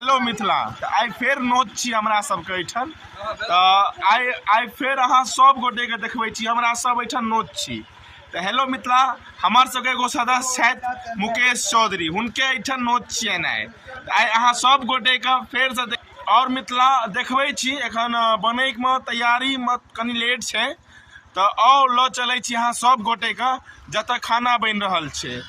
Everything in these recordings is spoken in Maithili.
हेलो मिथिला तऽ आइ फेर नोत छी हमरा सबके एहिठाम तऽ आइ आइ फेर अहाँ सब गोटेके देखबै छी हमरा सब एहिठाम नोत छी तऽ हेलो मिथिला हमर सबके एगो सदस्य छथि मुकेश चौधरी हुनके एहिठाम नोत छियनि आइ तऽ आइ अहाँ सब गोटेके फेरसँ देख- आओर मिथिला देखबै छी एखन बनैमे तैयारीमे कनि लेट छै तऽ आउ लऽ चलै छी अहाँ सब गोटे के जतऽ खाना बनि रहल छै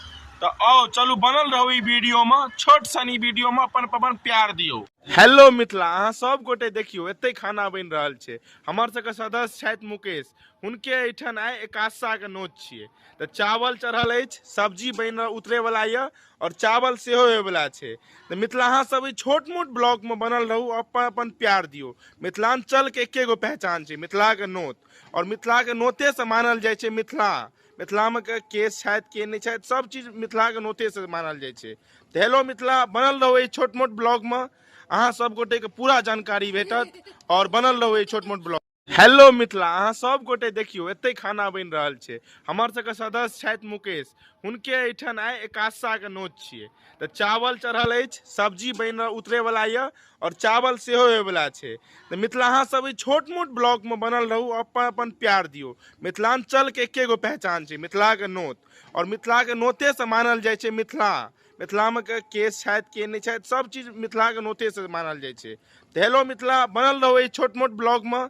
तऽ आउ चलू बनल रहू ई वीडियो मे छोट सन ई वीडियो मे अपन अपन प्यार दियौ हेलो मिथिला अहाँ सब गोटे देखियौ एते खाना बनि रहल छै हमर सबके सदस्य छथि मुकेश हुनके एहिठाम आइ एकादशा के नोत छियै तऽ चावल चढ़ल अछि सब्जी बनि उतरे वाला यऽ आओर चावल सेहो होयवला छै तऽ मिथिला अहाँसभ ई छोट मोट ब्लॉकमे बनल रहू अपन अपन प्यार दियौ मिथिलाञ्चलके एके गो पहचान छै मिथिलाके नोत आओर मिथिलाके नोतेसँ मानल जाइ छै मिथिला मिथिलामे के के छथि के नहि छथि सभ चीज मिथिलाके नोतेसँ मानल जाइ छै तऽ हेलो मिथिला बनल रहू एहि छोट मोट ब्लॉगमे अहाँ सभ गोटेके पूरा जानकारी भेटत आओर बनल रहू एहि छोट मोट ब्लॉग हेलो मिथिला अहाँ सब गोटे देखियौ एते खाना बनि रहल छै हमर सबके सदस्य छथि मुकेश हुनके एहिठाम आइ एकादशाके नोत छियै तऽ चावल चढ़ल अछि सब्जी बनि उतरैवला यए आओर चावल सेहो होयवला छै तऽ मिथिला अहाँ सब एहि छोट मोट ब्लॉकमे बनल रहू अपन अपन प्यार दियौ मिथिलाञ्चलके एके गो पहचान छै मिथिलाके नोत आओर मिथिलाके नोतेसँ मानल जाइ छै मिथिला मिथिलामे के केस छथि के नहि छथि सब चीज मिथिलाके नोतेसँ मानल जाइ छै तऽ हेलो मिथिला बनल रहू एहि छोट मोट ब्लॉगमे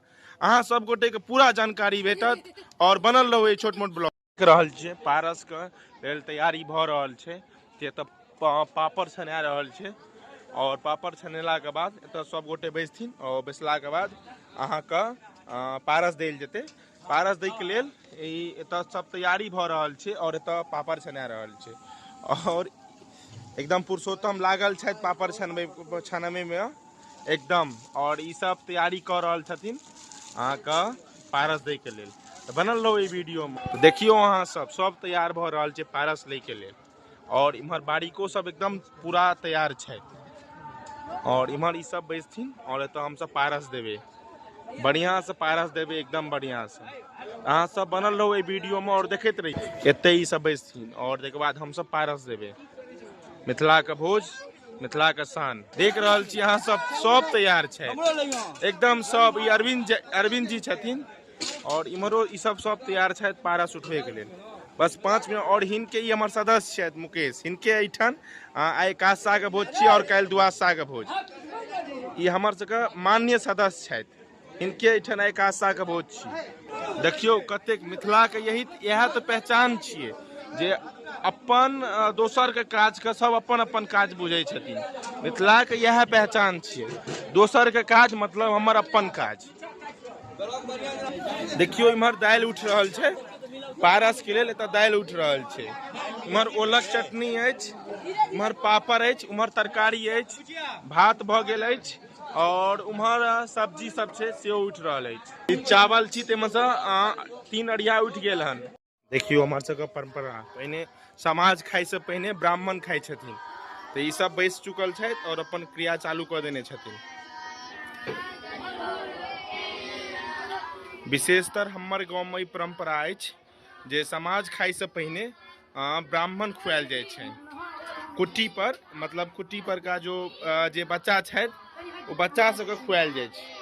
अहाँ सब गोटेके पूरा जानकारी भेटत आओर बनल रहू एहि छोट मोट ब्लॉग देख रहल छियै पारसके लेल तैयारी भऽ रहल छै जे तऽ पा- पापड़ छना रहल छै आओर पापड़ छनेलाके बाद एतऽ सब गोटे बैसथिन आओर बैसलाके बाद अहाँके अ, पारस देल जेतै पारस दै के लेल ई एतय सब तैयारी भऽ रहल छै और एतय पापड़ छना रहल छै और एकदम पुरुषोत्तम लागल छथि पापड़ छनबै छनबै में एकदम और ई सब तैयारी कऽ रहल छथिन अहाँके पारस दै के लेल तऽ बनल रहू ई वीडियो में देखियौ अहाँ सब सब तैयार भऽ रहल छै पारस लै के लेल आओर इम्हर बारीको सब एकदम पूरा तैयार छथि आओर इम्हर ई सब बैसथिन आओर एतऽ हम सब पारस देबै बढ़िया से पारस देबै एकदम बढ़िया से अहाँ सब बनल रहू एहि वीडियो में और देखते रहिए एते ई सब बैसथिन और तकर बाद हम सब पारस देबै मिथिला के भोज मिथिला के शान देख रहल छी अहाँ सब सब तैयार छथि एकदम सब ई अरविंद अरविंद जी छथिन आओर इम्हरो ई सब सब तैयार छथि पारस उठबैके लेल बस पाँच मिनट आओर हिनके ई हमर सदस्य छथि मुकेश हिनके एहिठाम आ, आइ एकादशाके भोज छी आओर काल्हि द्वादशाके भोज ई हमर सबके मान्य सदस्य छथि हिनके एहिठाम आइ एकादशाके भोज छी देखियौ कतेक मिथिलाके यही इएह तऽ पहचान छियै जे अपन अ, दोसरके काजके सब अपन अपन काज बुझै छथिन मिथिलाके इएह पहचान छियै दोसरके काज मतलब हमर अपन काज देखियो इम्हर दाल उठ रहल छै पारस के लिए एतऽ दाल उठ रहल छै इम्हर ओलक चटनी अछि इम्हर पापड़ अछि उम्हर तरकारी अछि भात भऽ गेल अछि और उम्हर सब्जी सब छै सेहो उठि रहल अछि ई चावल छी ताहिमे से तीन अरिया उठि गेल हन देखियौ हमर सबके परम्परा पहिने समाज खाइसँ पहिने ब्राह्मण खाइ छथिन तऽ ई सब बैस चुकल छथि आओर अपन क्रिया चालू कऽ देने छथिन विशेषतर हमर गाँवमे ई परम्परा अछि जे समाज खाइसँ पहिने ब्राह्मण खुआएल जाइ छै कुट्टी पर मतलब कुट्टी पर का जो जे बच्चा छथि ओ बच्चा सबके खुआएल जाइ छै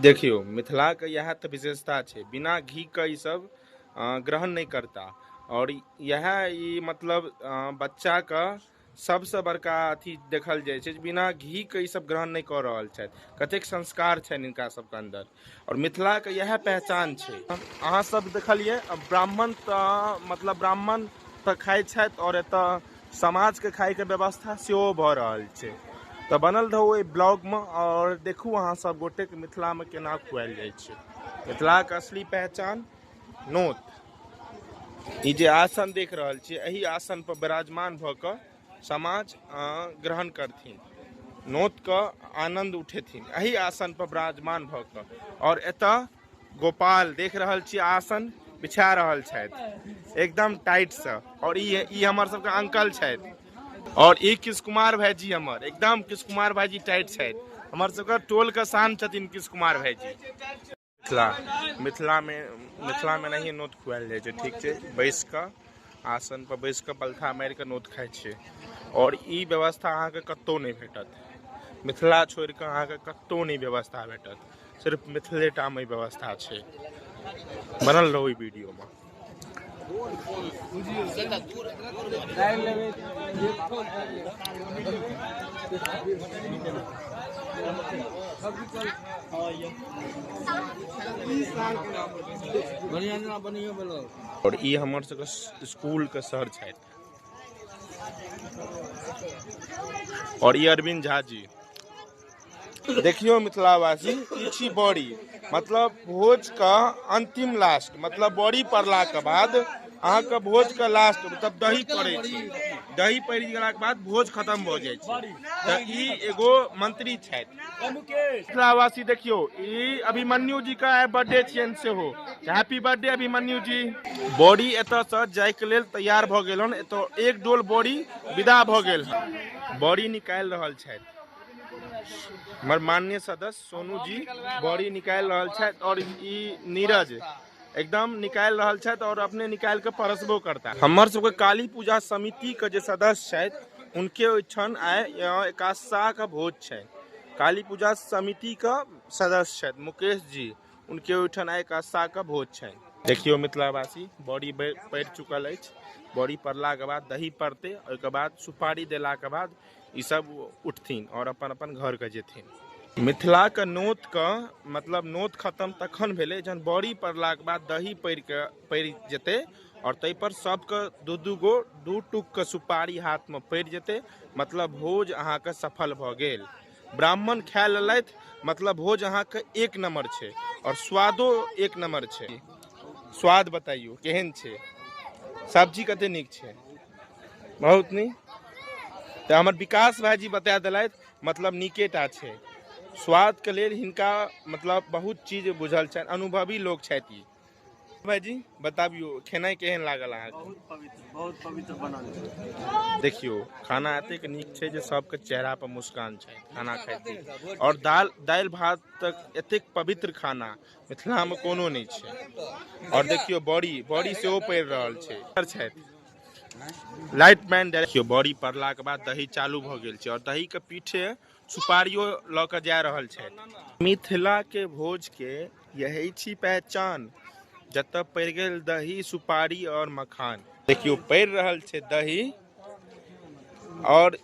देखियौ मिथिलाके इएह तऽ विशेषता छै बिना घीके ईसभ ग्रहण नहि करता आओर इएह ई मतलब बच्चाके सभसँ बड़का अथी देखल जाइ छै जे बिना घीके ईसभ ग्रहण नहि कऽ रहल छथि कतेक संस्कार छनि हिनका सभके अन्दर आओर मिथिलाके इएह पहचान छै अहाँसभ देखलियै ब्राह्मण तऽ मतलब ब्राह्मण तऽ खाइ छथि आओर एतय समाजके खाइके व्यवस्था सेहो भऽ रहल छै तऽ बनल रहू ओहि ब्लॉगमे आओर देखू अहाँ सब गोटेके मिथिलामे केना खुआएल जाइ छै मिथिलाके असली पहचान नोत ई जे आसन देख रहल छियै एहि आसन पर विराजमान भऽ कऽ समाज ग्रहण करथिन नोतके आनन्द उठेथिन एहि आसन पर विराजमान भऽ कऽ आओर एतऽ गोपाल देख रहल छी आसन बिछा रहल छथि एकदम टाइट से और ई ई हमर सबके अंकल छथि और ई किस कुमार भाईजी हमर एकदम किस कुमार भाईजी टाइट छथि हमर सबके टोल के शान छथिन किस कुमार भाईजी मिथिला मिथिला में मिथिला में नहीं नोत खुआल जाए ठीक है बैस कऽ आसन पर बैस कऽ पलथा मारि कऽ नोत खाइ छियै और ई व्यवस्था अहाँके कतौ नहि भेटत मिथिला छोड़ि कऽ अहाँके कतौ नहि व्यवस्था भेटत सिर्फ मिथिलेटामे ई व्यवस्था छै बनल रहू ई वीडियोमे आओर ई हमर सबके स्कूलके सर छथि आओर ई अरविन्द झा जी देखियौ मिथिलावासी ई छी बड़ी मतलब भोजके अन्तिम लास्ट मतलब बड़ी पड़लाके बाद अहाँके भोजके लास्ट मतलब दही पड़ै छै दही पड़ि गेलाके बाद भोज खतम भऽ जाइ छै तऽ ई एगो मंत्री छथि मिथिलावासी देखियौ ई अभिमन्यु जीके आइ बर्थडे छियनि सेहो हैप्पी बर्थडे अभिमन्यु जी बड़ी एतयसँ जायके लेल तैयार भऽ गेल हन एतय एक डोल बड़ी विदा भऽ गेल हन बड़ी निकालि रहल छथि हमर माननीय सदस्य सोनू जी बॉडी निकालि रहल छथि और ई नीरज एकदम निकालि रहल छथि और अपने निकालि के परसबो करता हमर सबके काली पूजा समिति के जे सदस्य छथि हुनके ओहिठाम आइ यहाँ एकादशा के भोज छै काली पूजा समिति के सदस्य छथि मुकेश जी हुनके ओहिठाम आइ एकादशा के भोज छै देखियो मिथिलावासी बॉडी पड़ि चुकल अछि बॉडी पड़लाके बाद दही पड़तै ओहिके बाद सुपारी देलाके बाद ई सब उठथिन आओर अपन अपन घरके जेथिन मिथिलाके नोतके मतलब नोत खतम तखन भेलै जहन बड़ी पड़लाके बाद दही पड़िके पड़ि जेतै आओर ताहिपर सबके दू दू गो दू टुकके सुपारी हाथमे पड़ि जेतै मतलब भोज अहाँके सफल भऽ गेल ब्राह्मण खा लेलथि मतलब भोज अहाँके एक नम्बर छै आओर स्वादो एक नम्बर छै स्वाद बताइयो केहन छै सब्जी कते नीक छै बहुत नीक तऽ हमर विकास भाईजी बता देलथि मतलब नीके टा छै स्वादके लेल हिनका मतलब बहुत चीज बुझल छनि अनुभवी लोक छथि ई भाईजी बताबियो खेनाइ केहन लागल अहाँके बहुत पवित्र बहुत पवित्र बनल छै देखियो खाना एतेक नीक छै जे सबके चेहरा पर मुस्कान छै खाना खाइत देख। आओर दाल दालि भात तक एतेक पवित्र खाना मिथिलामे कोनो नहि छै आओर देखियौ बड़ी बड़ी सेहो पड़ि रहल छै छथि लाइट मैन देखियौ बड़ी पड़लाके बाद दही चालू भऽ गेल छै आओर दहीके पीछे सुपारियो लऽ कऽ जा रहल छथि मिथिलाके भोजके यही छी पहचान जतऽ पड़ि गेल दही सुपारी आओर मखान देखियौ पड़ि रहल छै दही आओर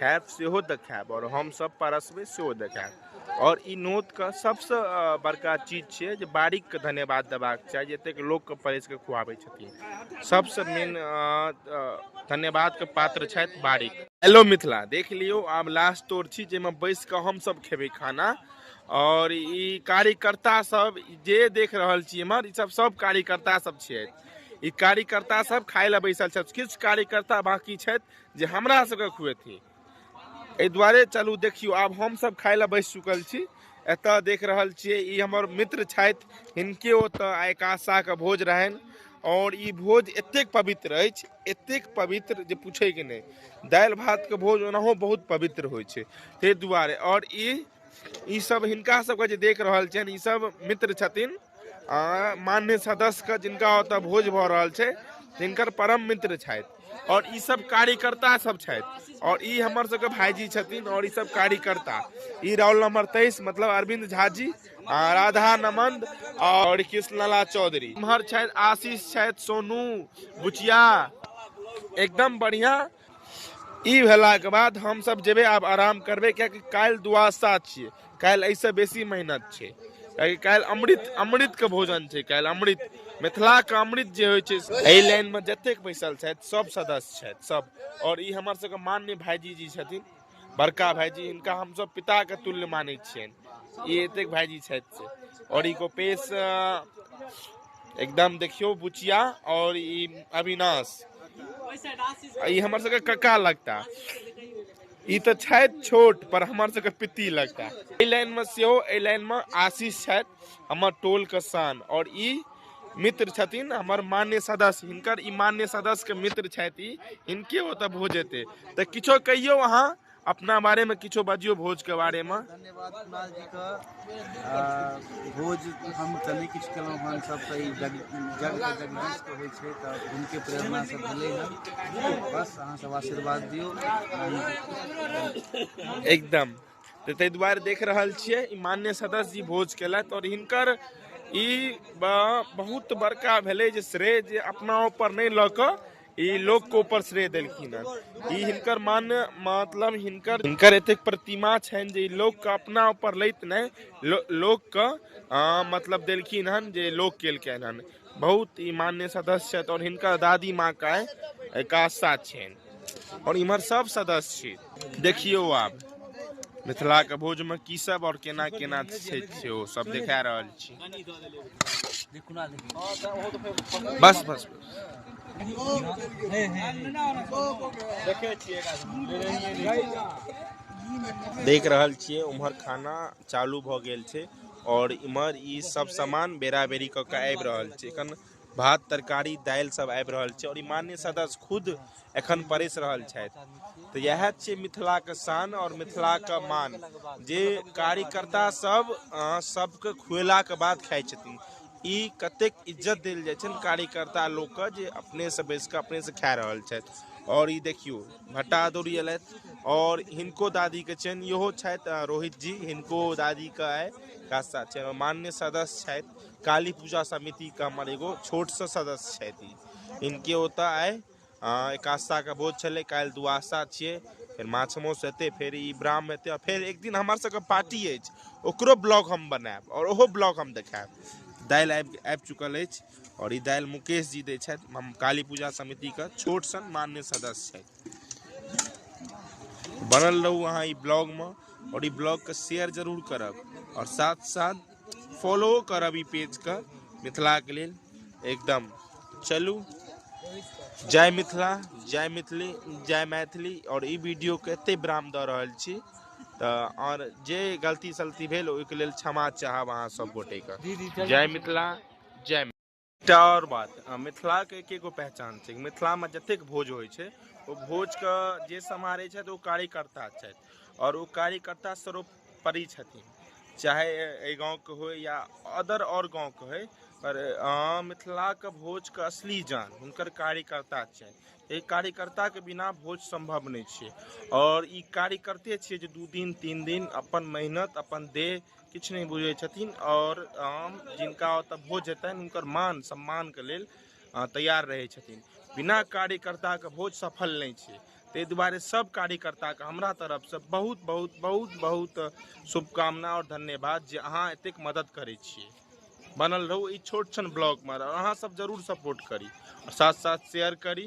खायब सेहो देखायब आओर हमसभ परसबै सेहो देखायब आओर ई नोतके सभसँ अ, बड़का चीज छियै जे बारीकके धन्यवाद देबाक चाही जे एतेक लोकके परसि कऽ खुआबै छथिन सभसँ मेन अ, अ, धन्यवादके पात्र छथि बारीक हेलो मिथिला देख लियौ आब लास्ट तोर छी जाहिमे बैस कऽ हमसभ खेबै खाना आओर ई कार्यकर्ता सब जे देख रहल छी एम्हर ई सब सब कार्यकर्ता सब छियथि ई कार्यकर्ता सब खाय लए बैसल छथि किछु कार्यकर्ता बाकी छथि जे हमरा सबके खुएथिन एहि दुआरे चलू देखियौ आब हमसभ खाय लए बैस चुकल छी एतऽ देख रहल छियै ई हमर मित्र छथि हिनके ओतऽ आइ कासाके भोज रहनि आओर ई भोज एतेक पवित्र अछि एतेक पवित्र जे पूछैके नहि दालि भातके भोज ओनाहो बहुत पवित्र होइ छै ताहि दुआरे आओर ई ई सब हिनका सबके जे देख रहल छियनि ई सब मित्र छथिन आ मान्य सदस्यके जिनका ओतऽ भोज भऽ रहल छै हिनकर परम मित्र छथि आओर ई सब कार्यकर्ता सब छथि आओर ई हमर सबके भाईजी छथिन आओर ई सब कार्यकर्ता ई रोल नंबर तेईस मतलब अरविंद झा जी आ राधा नमंद आओर कृष्णलाला चौधरी इम्हर छथि आशीष छथि सोनू बुचिया एकदम बढ़िया ई भेलाके बाद हमसभ जेबै आब आराम करबै कियाकि काल्हि दुआसा छियै काल्हि एहिसँ बेसी मेहनत छै कियाकि काल्हि अमृत अमृतके भोजन छै काल्हि अमृत मिथिलाके अमृत जे होइ छै एहि लाइनमे जतेक बैसल छथि सभ सदस्य छथि सभ आओर ई हमर सभके मान्य भाइजी जी छथिन बड़का भाईजी हिनका हमसभ पिताके तुल्य मानै छियनि ई एतेक भाईजी छथि से आओर ई गोपेश एकदम देखियौ बुचिया आओर ई अविनाश ई हमर सबके कक्का लगता ई तऽ छथि छोट पर हमर सबके पित्ती लगता एहि लाइनमे सेहो एहि लाइनमे आशीष छथि हमर टोल के शान और ई मित्र छथिन हमर मान्य सदस्य हिनकर ई मान्य सदस्य के मित्र छथि ई हिनके ओतऽ भोज हेतै तऽ किछो कहियौ अहाँ अपना बारे मे किछो बाजियौ भोज के बारे मे धन्यवाद कुणाल जी का आ, भोज हम तऽ नहि किछु केलहुँ हन सब तऽ ई जग जग के जगदीश के होइ छै तऽ हुनके प्रेरणा से भेलै हन बस अहाँ सब आशीर्वाद दियौ एकदम तऽ ताहि दुआरे देख रहल छियै ई मान्य सदस्य जी भोज केलथि आओर हिनकर ई ब- बहुत बड़का भेलै जे श्रेय जे अपना ऊपर नहि लऽ कऽ ई लोकके ऊपर श्रेय देलखिन हँ ई हिनकर मान्य मतलब हिनकर हिनकर एतेक प्रतिमा छनि जे ई लोकके अपना ऊपर लैत नहि लो, लोकके अ, मतलब देलखिन हन जे लोक केलकनि हन बहुत ही मान्य सदस्य छथि और हिनकर दादी माँ का एका साथ छनि और इम्हर सब सदस्य देखियो आप मिथिला के भोज में की सब और केना केना से सब देखा रहल छी बस बस देख रहल छे उम्हर खाना चालू भ गेल छे आओर इम्हर ई सब सामान बेरा बेरी कऽ के आबि रहल छै एखन भात तरकारी दालि सब आबि रहल छै आओर ई मान्य सदस्य खुद एखन परसि रहल छथि तऽ इएह छै मिथिलाके शान आओर मिथिलाके मान जे कार्यकर्ता सब अ, सबके खुएलाके बाद खाइ छथिन ई कतेक इज्जत देल जाइ छनि कार्यकर्ता लोकके जे अपनेसँ बैस कऽ अपनेसँ खा रहल छथि आओर ई देखियौ भट्टा अदौरी अयलथि आओर हिनको दादीके छनि इहो छथि रोहित जी हिनको दादीके आइ काज साथ छनि मान्य सदस्य छथि काली पूजा समितिके हमर एगो छोटसँ सदस्य छथि हिनके ओतऽ आइ एकादशाके भोज छलै काल्हि दुआसा छियै फेर माछ मौस हेतै फेर ई ब्राह्म हेतै आओर फेर एक दिन हमर सबके पार्टी अछि ओकरो ब्लॉग हम बनायब आओर ओहो ब्लॉग हम देखायब दालि आबि आबि चुकल अछि आओर ई दालि मुकेश जी दै छथि हम काली पूजा समितिके छोट सन मान्य सदस्य छथि बनल रहू अहाँ ई ब्लॉगमे आओर ई ब्लॉगके शेयर जरूर करब आओर साथ साथ फॉलो करब ई पेजके मिथिलाके लेल एकदम चलू जय मिथिला जय मिथिली जय मैथिली आओर ई वीडियोके एतेक विराम दऽ रहल छी तऽ आओर जे गलती सलती भेल ओहिके लेल क्षमा चाहब अहाँ सभ गोटेके जय मिथिला जय एकटा आओर बात मिथिलाके एक एगो पहचान छै मिथिलामे जतेक भोज होइ छै ओ भोजके जे सम्हारै छथि ओ कार्यकर्ता छथि आओर ओ कार्यकर्ता सर्वोपरि छथिन चाहे एहि गाँवके होइ या अदर आओर गाँवके होइ पर मिथिलाके भोजके असली जान हुनकर कार्यकर्ता छनि एहि कार्यकर्ताके बिना भोज सम्भव नहि छै आओर ई कार्यकर्ते छियै जे दू दिन तीन दिन अपन मेहनत अपन देह किछु नहि बुझैत छथिन आओर आम जिनका ओतऽ भोज हेतनि हुनकर मान सम्मानके लेल तैयार रहैत छथिन बिना कार्यकर्ताके भोज सफल नहि छै ताहि दुआरे सब कार्यकर्ताके हमरा तरफसँ बहुत बहुत बहुत बहुत शुभकामना आओर धन्यवाद जे अहाँ एतेक मदद करै छियै बनल रहू ई छोट छन ब्लॉगमे अहाँ सब जरूर सपोर्ट करी साथ साथ शेयर करी